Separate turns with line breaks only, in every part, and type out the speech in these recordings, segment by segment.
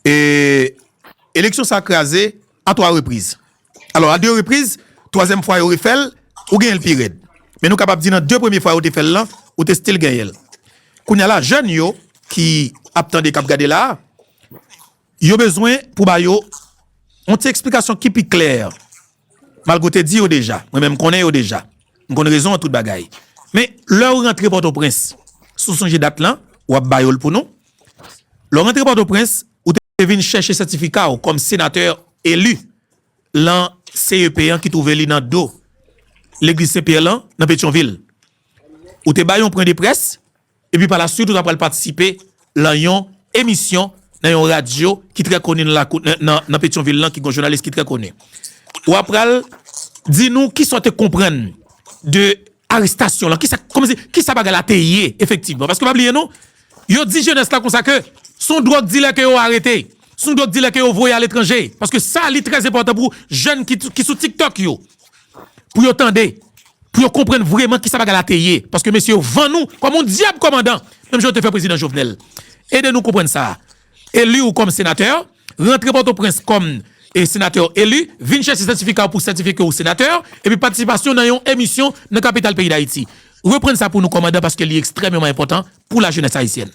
E eleksyon sa kraze a 3 repriz. Alò a 2 repriz, twazyèm fwa yo refè l, ou genyen l pi rèd. Men nou kapab di nan 2 premye fwa yo te fè l lan, ou te stil genyen l. Kounye a la, jèn yo ki ap tande, k ap gade la a, yo bezwen pou ba yo yon ti eksplikasyon ki pi klè. Malgre w te di yo deja, mwen menm m konnen yo deja. M konn rezon an tout bagay. Men, lè ou rantre Pòtoprens, si w sonje dat lan, w ap ba yo l pou nou. Lè w rantre Pòtoprens, ou te vin chèche sètifika w kòm senatè eli lan CEP an ki twouve li nan do Legliz Sen Pyè lan, nan Petyonvil. Ou te bay yon pwen de près, Epi pa la swit ou ta pral patisipe lan yon emisyon nan yon radyo ki trè koni nan lakou, nan Petyonvil lan ki gen yon jounalis ki trè koni. Ou a pral di nou kisa ou te konprann de arestasyon lan, kisa, kòman se, kisa bagay la te ye efektivman. Paske pa bliye non, yo di jenès la konsa ke se yon dwòg dilè ke yo arete, se yon dwòg dilè ke yo voye aletranje. Paske sa li trè enpòtan pou jenn ki sou TikTok yo. pou yo tande, pou yo konprann vreman kisa bagay la te ye, paske mesye yo vann nou kòm yon dyab kòmandan, menm jan yo te fè Prezidan Jovenel. Ede nou konprann sa a. Eli ou kòm senatè, rantre Pòtoprens kòm senatè eli, vin chèche sètifika ou pou sètifye ke ou senatè, epi patisipasyon nan yon emisyon nan kapital peyi Dayiti. Reprann sa pou nou kòmandan paske li ekstrèmeman enpòtan pou lajenès ayisyèn.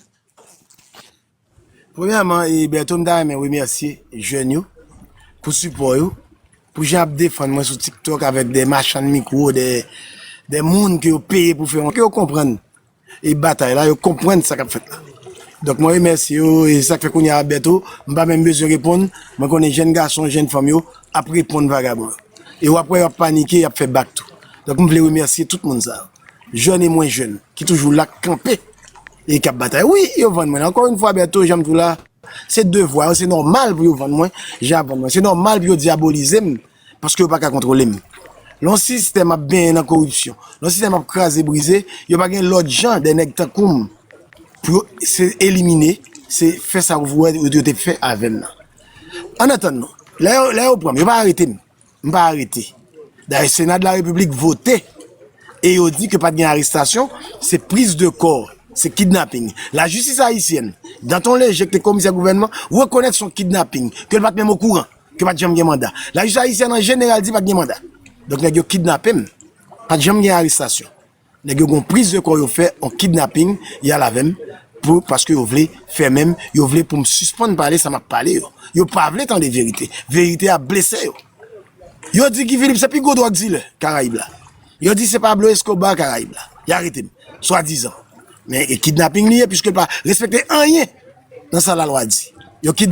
Premyèman e Bertho m ta renmen remèsye jèn yo pou sipò yo, pou jan yap defann mwen sou tiktok avèk dè machann mikwo, dè moun ke yo peye pou fè yon, ke yo konprann e batay la, yo konprann sa kap fèt la. Donk mwen remèsye yo e se sak fè kounye a Bertho m pa menm bezwen reponn, mwen konnen jèn gason, jèn fanm yo ap reponn vagabon yo. E wap wè yo ap panike, yap fè bak tou. Donk m vle remèsye tout moun sa yo. jèn e mwen jèn ki toujou la k kanpe e k ap batay. Wi, yo vann mwen. Ankò youn fwa Bertho, jan m di w la, se devwa yo, se nòmal pou yo vann mwen jan y ap vann mwen. Se nòmal pou yo dyabolize m paske yo pa ka kontwole m. Lè yon sistèm ap benyen nan koripsyon, lè yon sistèm ap kraze brize, yo pa gen lòt jan dè nèg tankou m pou yo se elimine, se fè sa w vouwè yo te fè avè m nan. Annatandan, lè yo pran m, yo pa arete m. M pa arete. Dayè Sena de la Repiblik vote e yo di ke pat gen arestasyon, se priz de kò, se kidnaping. La jistis ayisyèn, Danton Léger ki te komisè gouvènman, rekonèt son kidnaping, ke l pat menm okouran, ke pat janm gen manda. La jistis ayisyèn an jeneral di pat gen manda. Donk nèg yo kidnape m, pat janm gen arestasyon. Nèg yo gon priz de kò yo fè on kidnaping yal avèm pou paske yo vle fèmenm yo vle poum sispann pale sa map pale yo yo pa vle tande verite verite ap blese yo yo di Guy Philippe se pi gwo dròg dilè karayib la yo di se Pablo Escobar karayib la ya aretem swa dizan men e kidnaping li ye piskl pa respekte anyen nan sa la lwa di yo kid.